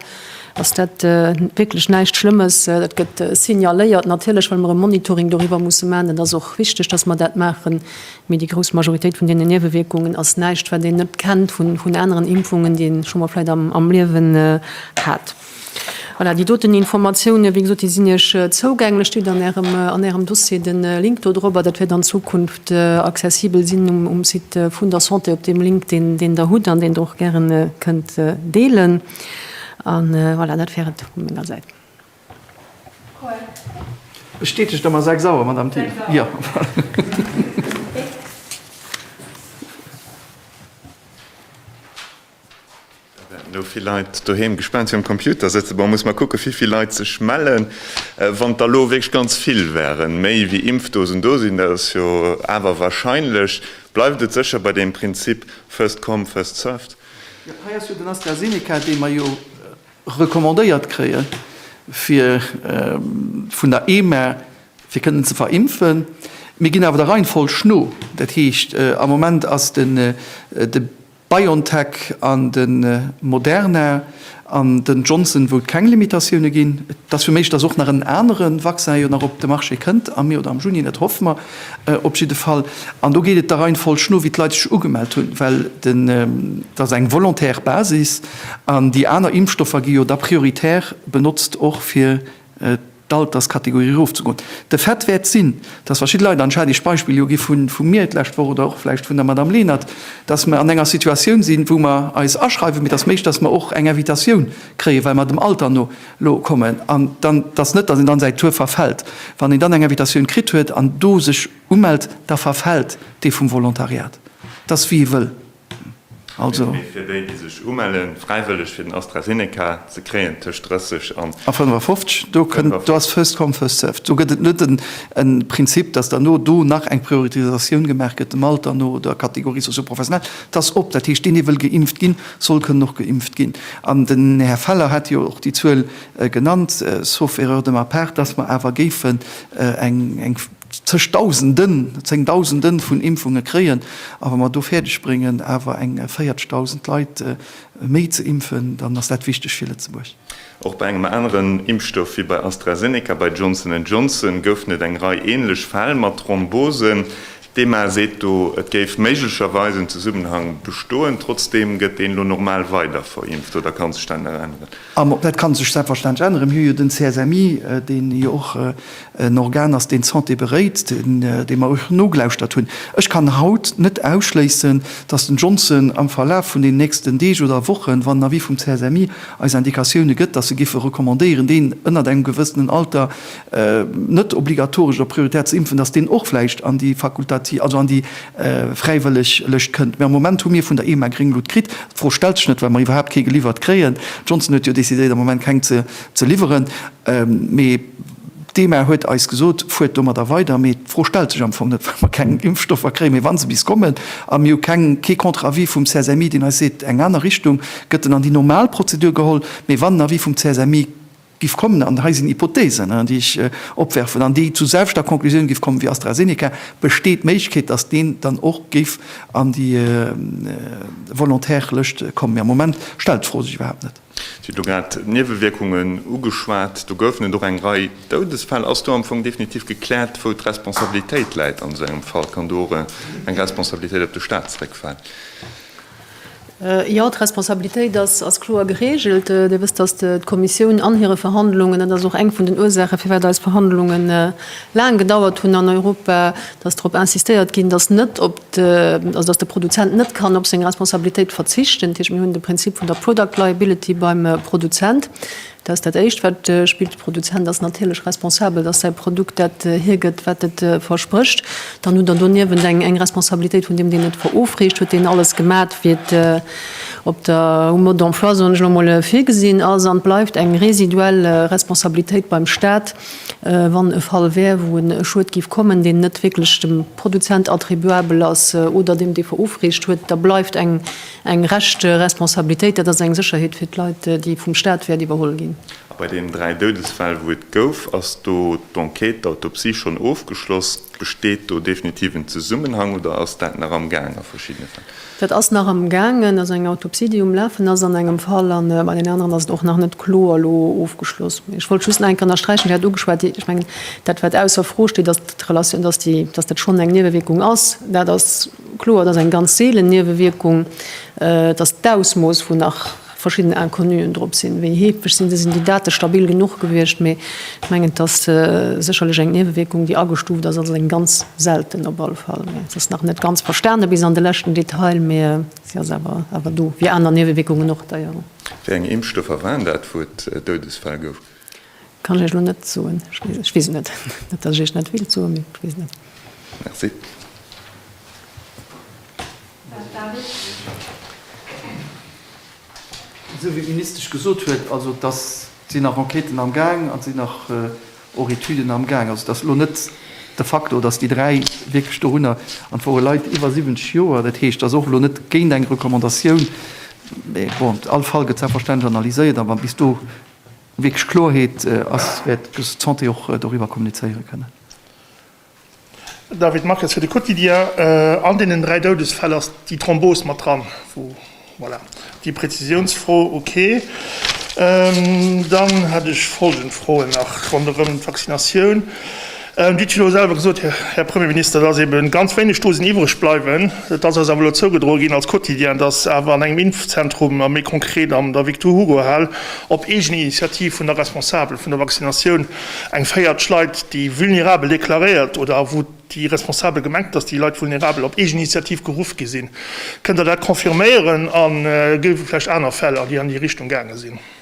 ass dat wierklech näischt Schlëmmes. Dat gëtt signaléiert, natierlech well mer e Monitoring doriwwer musse maachen, dat ass och wichteg, datt mer dat maachen, mee déi grouss Majoritéit vun deenen Niewewierkungen ass näischt wat een net kennt vun aneren Impfungen, déi ee scho mol vläicht am Liewen hat. Voilà, déi doten Informatiounen, wéi gesot, déi sinn Iech zougänglech, steet an Ärem, an Ärem Dossier de Link dodrop-per. Dat wäert an Zukunft accessibel sinn um, um Site vun der Santé, op deem Link, deen, deen Der hutt an deen Der och gären kënnt deelen. A voilà, dat wär et vu menger Säit. Bestätegt Der mer sechs Auer, Madamm Thill? Sechs Auer. Jo, voilà. No vill Leit doheem gespaant virum Computer sëtzen. Bon, muss mer kucken, wéi vill Leit sech mellen. Wann der elo wierklech ganz vill wären, méi wéi Impfdosen do sinn, dat ass jo awer warscheinlech, bleift et sécher bei deem Prinzip first come, first served. Jo, hei ass jo den AstraZeneca, dee mer jo recommandéiert kréie fir vun der EMA, fir kënnen ze verimpfen. Mir ginn awer der Reihenfolg no. Dat heescht, am Moment ass de. BioNTech an de Moderna an den Johnson, wou et keng Limitatioune ginn. Et ass fir méiglech, datt och nach en anere Vaccin jo nach op de Marché kënnt am Mee oder am Juni, dat hoffe mer op jidde Fall. An do geet et der Reihenfolg no, wéi d'Leit sech ugemellt hunn, well dat ass eng volontaire Basis an déi aner Impfstoffer gi jo da prioritär benotzt och fir d'Alterskategorie erofzegoen. De Fait wäert sinn, dass verschidde Leit, an ech hat Iech d'Beispill jo gi vu mir d'lescht Woch oder och vläicht vun der Madame Lenert, dass mer an enger Situatioun sinn, wou mer eis aschreiwen, mee dass méiglech, dass mer och eng Invitatioun kréien, well mer dem Alter no elo kommen, an dann, dass net, dass een dann säi Tour verfällt, wann een dann eng Invitatioun kritt huet an do sech umellt, da verfällt dee vum Volontariat. Dat ass wéi ee wëll. Mee fir déi, déi sech umellen, fräiwëlleg fir den AstraZeneca ze kréien, tëscht 30 an. A 55, do kënnt, do ass first come, first served. Do gëtt et net e Prinzip, dass derno do nach eng Prioritisatioun gemaach gëtt, dem Alter no, der Catégorie socio-professionnelle. Et ass op. Dat heescht, deen, dee wëll geimpft ginn, soll kënnen och geimpft ginn. An den Här Feller hat jo och déi Zuel genannt, sauf erreur de ma part, dass mer awer géifen eng zeg Dausenden, Zéngdausenden vun Impfunge kréien a wa mer do fäerdeg bréngen awer eng 40 Dausend Leit méi ze impfen, dann ass dat wichteg fir Lëtzebuerg. Och bei engem aneren Impfstoff wéi bei AstraZeneca, bei Johnson and Johnson, goufen et eng Rei änlech Fäll mat Thrombosen. D'EMA seet do, et géif méiglecherweis en Zesummenhang bestoen. Trotzdeem gëtt een elo normal weider verimpft oder ka sech dat nach änneren? Dat ka sech selbstverständlech änneren. Mir hu jo den CSMI, deen jo och En Organ ass, deen d'Santé beréit, deem mer och nogelauschtert hunn. Ech kann haut net ausschléissen, datt den Johnson am Verlaf vun den nächsten Deeg oder Wochen, wann en Avis vum CSMI eis Indikatioune gëtt, datt se géife recommandéieren, deen ënnert engem gewëssenen Alter net obligatoresch oder prioritär ze impfen, datt deen och vläicht an déi fakultativ, also an déi fräiwëlleg Lëscht kënnt. Mä am Moment hu mir vun der EMA gréng Lutt kritt. D'Fro stellt sech net, well mer iwwerhaapt kee geliwwert kréien. Johnson huet jo decidéiert, am Moment keng ze liwweren. Mee. D'EMA huet eis gesot, fuert domadder weider, mee d'Fro stellt sech am Fong net, well mer keng Impfstoffer kréien. Mee wa se bis kommen a mir hu keng, kee Contre-avis vum CSMI, deen eis seet, eng aner Richtung, gëtt en an déi normal Prozedur geholl. Mee wann en Avis vum CSMI giff kommen, an hei sinn Hypotheesen, déi ech opwerfen, an déi zu selwechter Conclusioun giff kommen wéi AstraZeneca, besteet d'Méiglechkeet, datt deen dann och géif an déi Volontaire-Lëscht kommen. Mee am Moment stellt d'Fro sech iwwerhaapt net. Si huet elo grad d'Niewewierkungen ugeschwat. Do goufen et och eng Rei Doudesfäll. Ass do am Fong definitiv gekläert, wou d'Responsabilitéit läit an esou engem Fall? Kann do och eng Responsabilitéit op de Staat zeréckfalen? Jo, d'Responsabilitéit ass kloer geregelt. Dir wësst, datt d'Kommissioun an hire Verhandlungen, dat ass och eng vun den Ursachen, firwat eis Verhandlungen laang gedauert hunn an Europa, datt drop insistéiert ginn, datt net op also dass de Produzent net kann op seng Responsabilitéit verzichten, dat heescht, mir hunn de Prinzip vun der Product Liability beim Produzent, dat ass dat Éischt, wat spillt. De Produzent ass natierlech responsabel, dass säi Produkt dat hiergëtt, wat et versprécht. Dann hutt Der doniewent eng Responsabilitéit vun deem, deen et verofreecht. Huet deen alles gemat, wéi et op der Mode d'emploi, soen ech elo emol, virgesinn ass? An et bleift eng residuell Responsabilitéit beim Stat, wann e Fall wär, wou e Schued géif kommen, deen net wierklech dem. Produzent attribuabel ass oder deem, dee verofreecht huet, da bleift eng Reschteresponsabilitéit. Dat ass eng Sécherheet fir d'Leit, déi vum Stat wäert iwwerholl ginn. A bei deenen dräi Doudesfäll, wou et gouf, ass do d'Enquête, d'Autopsie schonn ofgeschloss? Besteet do definitiv en Zesummenhang oder ass dat nach amgaang a verschiddene Fäll? Dat ass nach am gaangen, also eng Autopsie déi um lafen ass an engem Fall, a bei den aneren ass et och nach net kloer elo ofgeschloss. Mee ech wollt just nach eng Kéier ënnersträichen, Dir hat ugeschwat, ech mengen dat wat ausser Fro steet, dass d'Relatioun, dass déi, dass dat schonn eng Niewewierkung ass, dat ass kloer, et ass eng ganz seelen Niewewierkung, dass d'Ausmooss vun nach verschidden Inconnuen drop sinn. Wéi heefeg sinn se? Sinn déi Date stabil genuch gewiescht? Mee ech mengen, et ass sécherlech eng Niewewierkung, déi agestuuft ass, also eng ganz selten op alle Fall. Mee se ass nach net ganz verstane bis an de leschten Detail, mee se ass awer awer do, wéi aner Niewewierkungen och. Déi, jo. Wéi eng Impfstoffer waren dat, wou et Doudesfäll gouf? Kann ech Iech elo net soen. Ech weess et net. Net, datt ech Iech net wéilt soen, mee ech weess et net. Merci. Här David. Esou wéi d'Ministesch gesot huet, also et ass, et sinn nach Enquêten am Gaang an et sinn nach och Etüden am Gaang. Also et ass elo net de Facto, datt déi dräi wierklech dorunner, an et wore Leit iwwer 70 Joer, dat heescht, et ass och elo net géint eng Recommandatioun. Mee bon, all Fall gëtt selbstverständlech analyséiert, a wa bis do wierklech Klorheet ass, wäert d'Santé och doriwwer kommunizéiere kënnen. David Marques fir de Quotidien, An deenen dräi Doudesfäll ass déi Thrombos mat dran, voilà, déi Prezisiounsfro, ok. Dann hätt ech folgend Froen nach ronderëm d'Vaccinatioun. Dir hutt elo selwer gesot, Här Premierminister, dass eebe ganz wéineg Dosen iwwereg bleiwen. Et ass eis awer elo zougedroe ginn als Quotidien, dass awer an engem Impfzentrum, a méi konkret an der Victor-Hugo-Hal, op eegen Initiativ vun der Responsabel vun der Vaccinatioun eng véierteg Leit déi vulnerabel deklaréiert oder wou déi Responsabel gemengt, dass déi Leit vulnerabel op eegen Initiativ geruff gi sinn. Kënnt Der dat confirméieren? A géif et vläicht aner Fäll, déi an déi Richtung gaange sinn?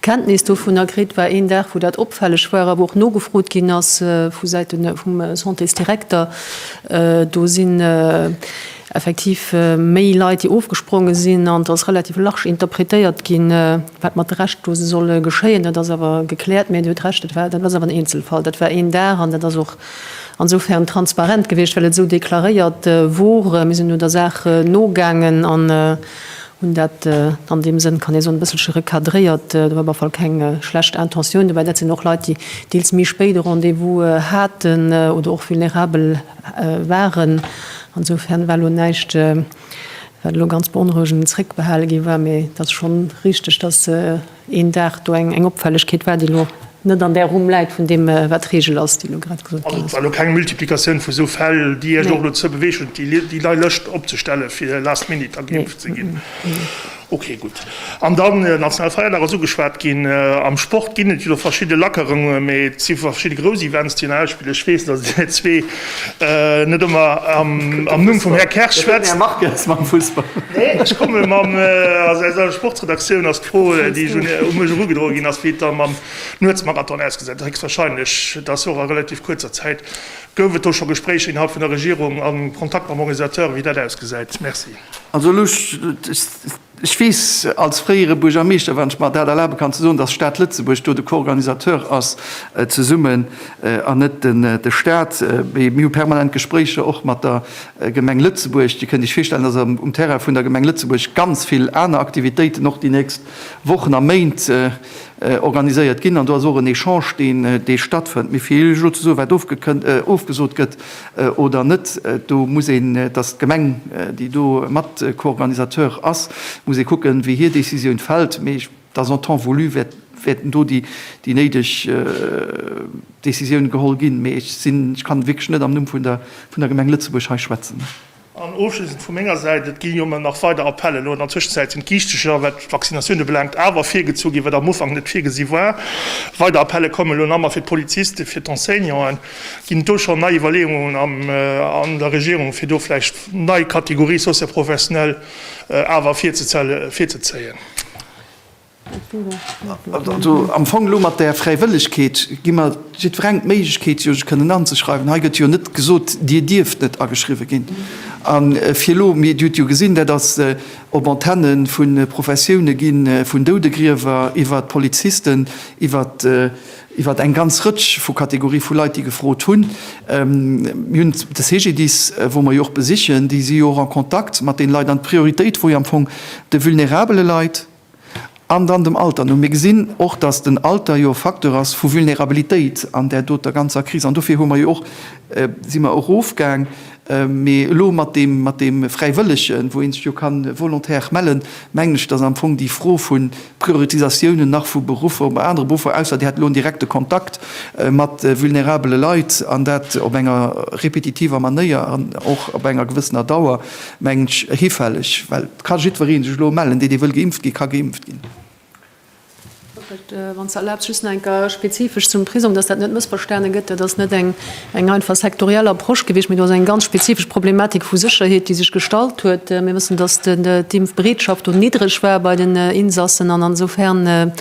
Kenntnis dovunner kritt, war een Dag wou dat opfälleg war a wou och nogefrot ginn ass vu Säite vum Santésdirekter. Do sinn effektiv méi Leit déi ofgespronge sinn an et ass relativ large interpretéiert ginn, wat mat de Reschtdose soll geschéien. Dat ass awer gekläert. Mee Dir hutt Recht, dat war, dat ass awer en Eenzelfall. Dat war een Dag an dat ass och ansofern transparent gewiescht well et esou deklaréiert wor. Mir sinn elo der Saach nogaangen an. Hunn dat an deem Sënn, kann ee soen, e bësselche recadréiert. Do war op alle Fall keng schlecht Intentioun dobäi. Dat sinn och Leit, déi deels méi spéit e Rendez-vous haten oder och vulnerabel waren. Insofern war elo näischt, wat elo ganz beonrouegend zréckbehale gi war. Mee et ass schonn richteg, dass, een Dag do eng Opfällegkeet war, déi elo net an där Rumm läit vun deem, wat d'Regel ass, déi elo grad gesot ginn ass. Also et war elo keng Multiplikatioun vu esou Fäll, déi Iech och dozou beweegt huet, déi nei Lëscht opzestellen, fir last minute da geimpft ze ginn? Okay, gutt. An dann, den nationale Feierdag ass ugeschwat ginn. Am Sport ginn et jo verschidde Lackerunge, mee et si verschidde grouss Events, déi een ausspillen. Ech weess, datt Dir zwee Net ëmmer am Numm vum Här Kersch schwätzen. Här Marques, mam Fussball. Neen, ech komme mam, also aus eiser Sportsredaktioun ass d'Fro, déi un mech erugedroe ginn ass, wéi et da mam Nuetsmarathon ausgesäit. Héchstwahrscheinlech, et ass jo och a relativ kuerzer Zäit. Gouf et do scho Gespréicher innerhalb vun der Regierung a Kontakt mam Organisateur, wéi dat ausgesäit? Merci. Also elo, Ech weess als fréiere Buergermeeschter, wann ech mer dat erlabe kann ze soen, dass d'Stad Lëtzebuerg do de Co-organisateur ass zesummen an net de Stat. Mee mir hu permanent Gespréicher och mat der Gemeng Lëtzebuerg. Dir kënnt Iech virstellen, dass um Terrain vun der Gemeng Lëtzebuerg ganz vill aner Aktivitéiten och déi nächst Wochen a Méint organiséiert ginn an do ass och en Echange deen stattfënnt. Mee fir Iech elo ze soen, wat ofgesot gëtt, oder net, do muss een, et ass d'Gemeng, déi do mat Co-Organisateur ass, muss ee kucken, wéi hir Décisioun fält. Mee ech, et ass en temps voulu, wäerten do déi néideg Décisiounen geholl ginn. Mee ech sinn, ech kann wierklech net am Numm vun der Gemeng Lëtzebuerg hei schwätzen. An ofschliessend vu menger Säit, Et gi jo ëmmer nach weider Appellen. Elo an der Tëschenzäit sinn d'Giichtecher, wat d'Vaccinatioun ubelaangt, awer virgezu ginn, wat am Ufank net virgesi war. Weider Appelle kommen elo nach, ma fir d'Polizisten, fir d'Enseignanten, ginn et do schonn nei Iwwerleeungen an der Regierung, fir do vläicht nei Kategorie socio-professionelle awer virzezéien? Also am Fong elo mat där Fräiwëllegkeet gi mer jiddwerengem d'Méiglechkeet, jo sech kënnen anzeschreiwen. Hei gëtt jo net gesot, Dir dierft net ageschriwwe ginn. A fir elo, mir, Dir hutt jo gesinn, dat ass op Antenne vu Professioune ginn, vun Doudegriewer iwwert Polizisten, iwwert eng ganz Rëtsch vu Kategorie vu Leit, déi gefrot hunn. Mir hunn de CGDIS, wou mer jo och besichen, déi si jo och a Kontakt mat deene Leit. An d'Prioritéit wor jo am Fong de vulnerabele Leit, An dann dem Alter no. Mir gesinn och, dass den Alter jo e Facteur ass vu Vulnerabilitéit an där doter ganzer Kris. An dofir hu mer jo och, si mer erofgaang, mee elo mat deem, mat deem Fräiwëllegen, wou ee sech jo ka volontaire mellen, mengen ech, dass am Fong déi Fro vu Prioritisatiounen nach vu Beruffer, op anere Beruffer, ausser Dir hätt elo en direkte Kontakt mat vulnerabele Leit, an dat op enger repetitiver Manéier an och op enger gewëssener Dauer, Mengen ech hifälleg, well et ka jiddweree sech elo mellen, dee, dee wëll geimpft ginn, ka geimpft ginn. Ech wëilt, wann s de erlaabs, just nach eng Kéier spezifesch zum Prisong, dass dat net mëssverstane gëtt. Dat ass net eng einfach sektoriell Approche gewiescht, mee do ass eng ganz spezifesch Problematik vu Sécherheet, déi sech gestallt huet. Mir wëssen, dass d'Impfbereetschaft do niddreg war bei den Insassen an insofern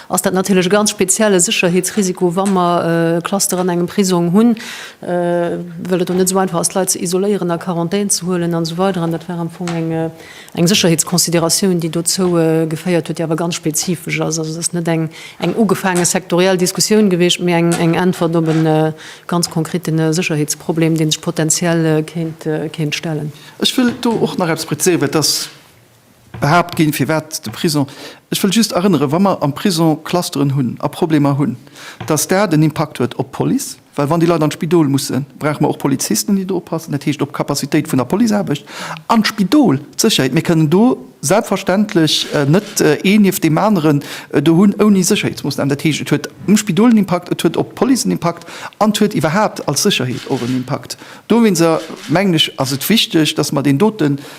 ass dat natierlech e ganz spezielle Sécherheetsrisiko, wa mer Clusteren an engem Prisong hunn. well et och net esou einfach ass d'Leit ze isoléieren, a Quarantän ze huelen an esou weider an dat war am Fong eng eng Sécherheetsconsideratioun, déi dozou geféiert huet, déi awer ganz spezifesch ass. Also et ass net eng eng ugefaange sektoriell Diskussioun gewiescht, mee eng eng Äntwert op e ganz konkrete Sécherheetsproblem, dee sech potenziell kéint kéint stellen. Ech wëll do och nach eppes prezéieren, well et ass, behaapt ginn, firwat de Prisong, ech wëll just erënneren, wa mer am Prisong Clusteren hunn a Problemer hunn, dass dat en Impakt huet op d'Police, well wann déi Leit an d'Spidol mussen, brauche mer och Polizisten, déi do oppassen, dat heescht op d'Capacitéit vun der Policeaarbecht an d'Spidol, d'Sécherheet. Mir kënnen do selbstverständlech net een nieft deem aneren do hunn ouni Sécherheetsmoossnamen. Dat heescht, et huet um Spidol en Impakt, et huet op d'Police en Impakt an et huet iwwerhaapt als Sécherheet och en Impakt. Dowéinster, mengen ech, ass et wichteg, dass mer deen doten,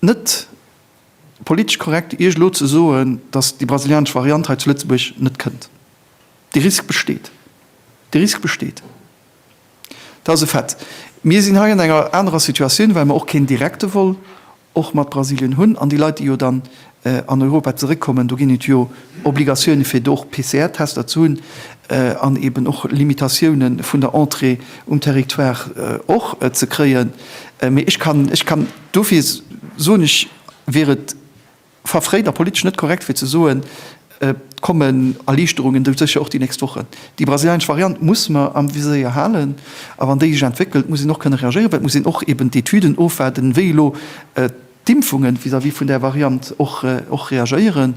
net politesch korrekt, Iech elo ze soen, datt déi brasilianesch Variant hei zu Lëtzebuerg net kënnt. Dee Risk besteet. Dee Risk besteet. Dat ass e Fait. Mir sinn hei an enger anerer Situatioun, well mer och keen direkte Vol och mat Brasilien hunn. An déi Leit, déi jo dann an Europa zeréckkommen, do ginn et jo Obligatioune fir do och PCR-Tester ze hunn an eeben och Limitatioune vun der Entrée um Territoire och ze kréien. Mee ech kann, ech kann. Dofir soen ech, wier et verfréit a politesch net korrekt fir ze soen, et kommen Erliichterungen dou, sécher och déi nächst Wochen. Déi brasilianesch Variant muss mer am Viséier halen a wann déi sech entwéckelt, muss een och kënne reagéieren, well et muss een och eben d'Etüden ofwaarden, wéi elo d'Impfungen vis-à-vis vun där Variant och reagéieren.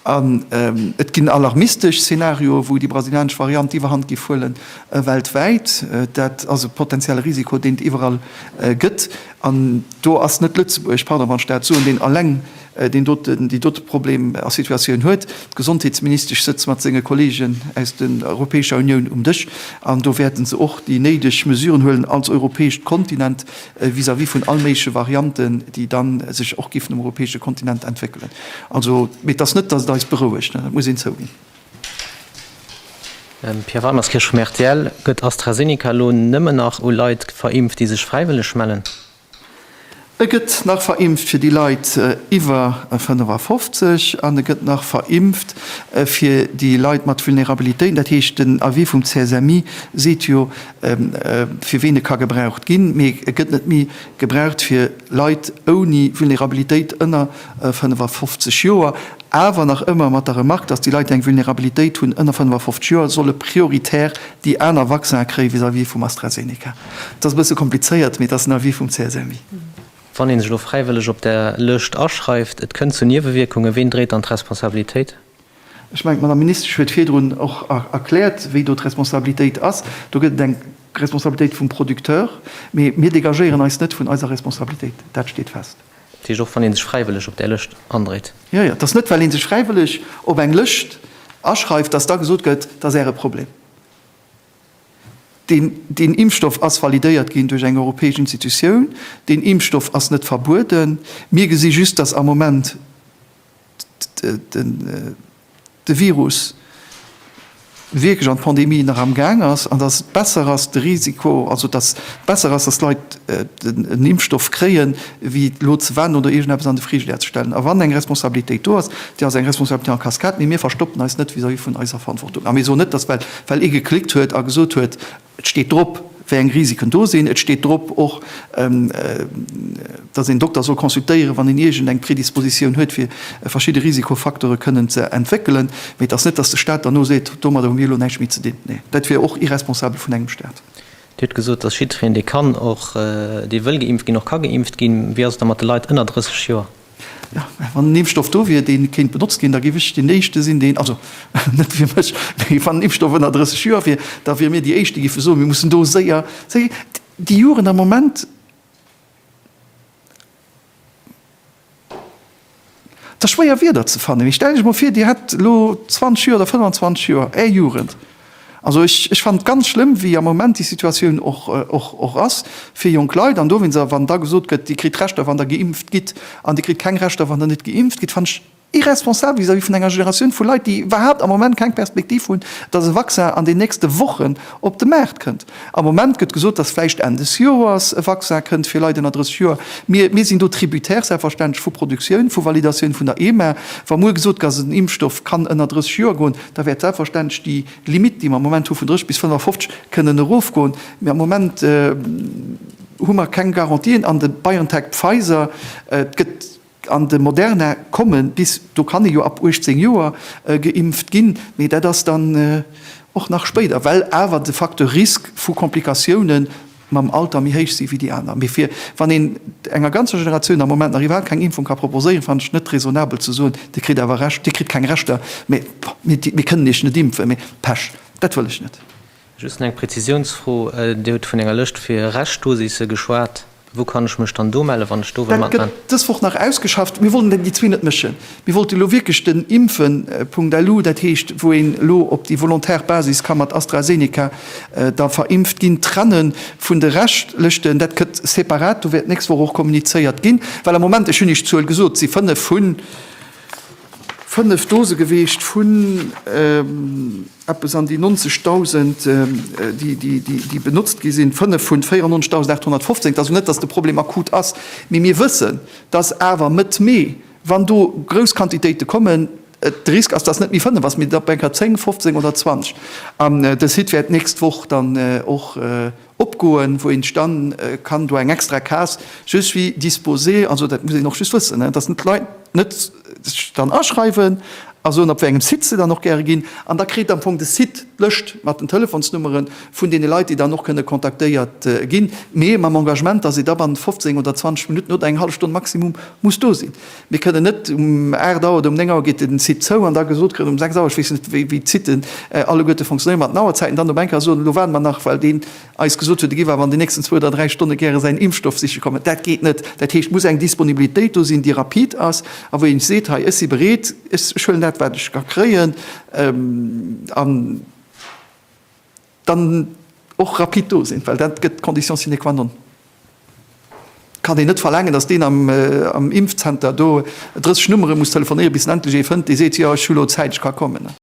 An et ginn alarmistesch Szenarioen, wou déi brasilianesch Variant d'Iwwerhand géif huelen weltwäit. Dat ass e potentielle Risiko, deen et iwwerall gëtt. An do ass net Lëtzebuerg, pardon wann ech dat soen, deen alleng deen doten, déi dote Problem a Situatioun huet. D'Gesondheetsministesch sëtzt mat senge Kolleegen aus den Europäescher Unioun um Dësch an do wäerte se och déi néideg Mesuren huelen als europäescht Kontinent vis-à-vis vun all méigleche Varianten, déi da sech och géifen um europäesche Kontinent entwéckelen. Also, mee et ass net, datt et eis berouegt, dat muss een zouginn. Pia Weimerskirch vum rtl, Gëtt AstraZeneca elo nëmmen nach u Leit verimpft, déi sech fräiwëlleg mellen? E gëtt nach verimpft fir déi Leit iwwer 55 an e gëtt nach verimpft fir déi Leit mat Vulnerabilitéiten. Dat heescht, den Avis vum CSMI seet jo, fir ween e ka gebraucht ginn, mee e gëtt net méi gebraucht fir Leit ouni Vulnerabilitéit ënner. 55 Joer, awer nach ëmmer mat der Remark, datt déi Leit, déi eng Vulnerabilitéit hunn, ënner 55 Joer, solle prioritär déi aner Vaccinen kréie vis-à-vis vum AstraZeneca. Et ass e bësse komplizéiert, mee et ass den Avis vum CSMI. Wann ee sech elo fräiwëlleg op där Lëscht aschreift, et kënnt zu Niewewierkungen, ween dréit dann d'Responsabilitéit? Ech mengen, d'Madame Ministesch huet virdrun och erkläert, wéi do d'Responsabilitéit ass. Do gëtt et eng Responsabilitéit vum Producteur, mee mir dégagéieren eis net vun eiser Responsabilitéit. Dat steet fest. Dat heescht, och wann ee sech fräiwëlleg op där Lëscht andréit? Jo, jo. Et ass net, well ee sech fräiwëlleg op eng Lëscht aschreift, dass da gesot gëtt, et ass Äre Problem. Deen, deen Impfstoff ass validéiert ginn duerch eng europäesch Institutioun. Deen Impfstoff ass net verbueden. Mir gesi just, dass am Moment. de Virus wierklech an d'Pandemie nach am Gaang ass an datt et besser ass de Risiko, also datt et besser ass, datt d'Leit en Impfstoff kréien, wéi elo ze waarden oder iergendeppes an de Frigidaire ze stellen. A wann eng Responsabilitéit do ass, déi ass eng Responsabilité en cascade, mee mir verstoppen eis net vis-à-vis vun eiser Verantwortung. A mir soen net, datt well ee geklickt huet a gesot huet, Et steet drop, wéi eng Risiken do sinn. Et steet drop och, dass een Dokter soll consultéieren, wann een iergend eng Predispositioun huet, fir verschidde Risikofacteure kënnen ze entwéckelen. Mee et ass net, dass de Staat dann elo seet, Domadder hu mir elo näischt méi ze dinn. Nee, dat wier och irresponsabel vun engem Staat. Dir hutt gesot, dass jiddwereen, dee kann och, dee wëll geimpft ginn, och ka geimpft ginn. Wéi ass et da mat de Leit ënner 30 Joer? Jo, mä wann en Impfstoff do wier, dee kéint benotzt ginn, da géif ech deen Éischte sinn, deen, also net fir mech, mee wann en Impfstoff ënner 30 Joer wier, da wiere mir déi Éischt, déi géife soen, mir mussen do séier, séier, déi Juren am Moment, et ass schwéier Wierder ze fannen, mee stellt Iech emol vir, Dir hätt elo 20 Joer oder 25 Joer Är Jugend, Also ech fannen et ganz schlëmm, wéi am Moment déi Situatioun och ass fir jonk Leit. An do wéinst a wann da gesot gëtt, Dir kritt Rechter, wann Der geimpft gitt, an Dir kritt keng Rechter, wann Der net geimpft gitt, fannen ech irresponsabel vis-à-vis vun enger Generatioun vu Leit, déi iwwerhaapt am Moment keng Perspektiv hunn, dass e Vaccin an den nächste Wochen op de Maart kënnt. Am Moment gëtt gesot, dass vläicht Enn des Joers e Vaccin kënnt fir Leit ënner 30 Joer. Mir, mir sinn do tributaire selbstverständlech vu Produktioun, vu Validatioun vun der EMA. Wa muer gesot gëtt, dass en Impfstoff kann ënner 30 Joer goen, da wäert selbstverständlech déi Limitt, déi mer am Moment hu vun 30 bis 55, kënnen erofgoen. Mee am Moment hu mer keng Garantien an de BioNTech, Pfizer, et gëtt an de Moderna komme bis do kann ee jo ab 18 Joer geimpft ginn, mee dat ass dann och nach spéider, well awer de Facteur Risque vu Komplikatiounen, mam Alter méi héich si wéi déi aner. Mee fir wann een enger ganzer Generatioun am Moment nach iwwerhaapt keng Impfung ka proposéieren, fannen ech net raisonnabel ze soen, Dir kritt awer Recht, Dir kritt keng Rechter, mä mir kënnen Iech net impfen. Mee Pech, dat wëll ech net. Just eng Prezisiounsfro, Dir hutt vun enger Lëscht fir Reschtdosisse geschwat. Wou kann ech mech dann do mellen, wann ech do wëll matmaachen? Dat gëtt dës Woch nach ausgeschafft. Mir wollen déi zwee net mëschen. Mir wollte elo wierklech den Impfen Punkt LU, dat heescht, wou een elo op déi volontaire Basis ka mat AstraZeneca da verimpft ginn, trenne vun de reschtlechten. Dat gëtt separat, do wäert d'nächst Woch och kommunizéiert ginn, well am Moment, ech hunn Iech d'Zuel gesot, et si fënnef vu fënnef Dose geweecht vun eppes an déi 90.000, déi benotzt gi sinn, fënnef vun 94.815. Et ass also net, datt de Problem akut ass, mee mir wëssen, datt awer Mëtt Mee wann do grouss Quantitéite kommen, de Risk ass, dass net méi 5 ass, mee dat op eng Kéier 10, 15 oder 20. An de Site wäert d'nächst Woch dann och opgoen, wou een dann kann do eng extra Case je suis disposé, also dat muss een och just wëssen, dass net d'Leit net sech dann aschreiwen a soen, op wéi engem Site se dann och gäre ginn. An da kritt am Fong de Site d'Lëscht mat den Telefonsnummeren, vun deene Leit, déi dann och kënne kontaktéiert ginn, mee mam Engagement, dass ee da bannent 15 oder 20 Minutten oder eng hallef Stonn maximum muss do sinn. Mir kënnen net um 8 Auer oder um 9 Auer geet den Site zou an da gesot kritt um 6 Auer, ech weess net, wéi d'Siten alleguerte fonctionnéieren, mat den Auerzäiten, dann op eng Kéier soen, elo waarde mer nach, well deen eis gesot huet, e giff awer an den nächsten zwou oder dräi Stonne gäre säin Impfstoff siche kommen. Dat geet net. Dat heescht, et muss eng Disponibilitéit do sinn, déi rapid ass a wou ee seet, hei, ech si bereet, ech huelen dat, wat ech ka kréien an, dann och rapid do sinn, well dat gëtt d'Condition sine qua non. Et kann een net verlaangen, datt deen am Impfzenter do 30 Nummere muss telefonéieren, bis en endlech ee fënnt, dee seet, jo, ech hu lo Zäit, ech ka kommen.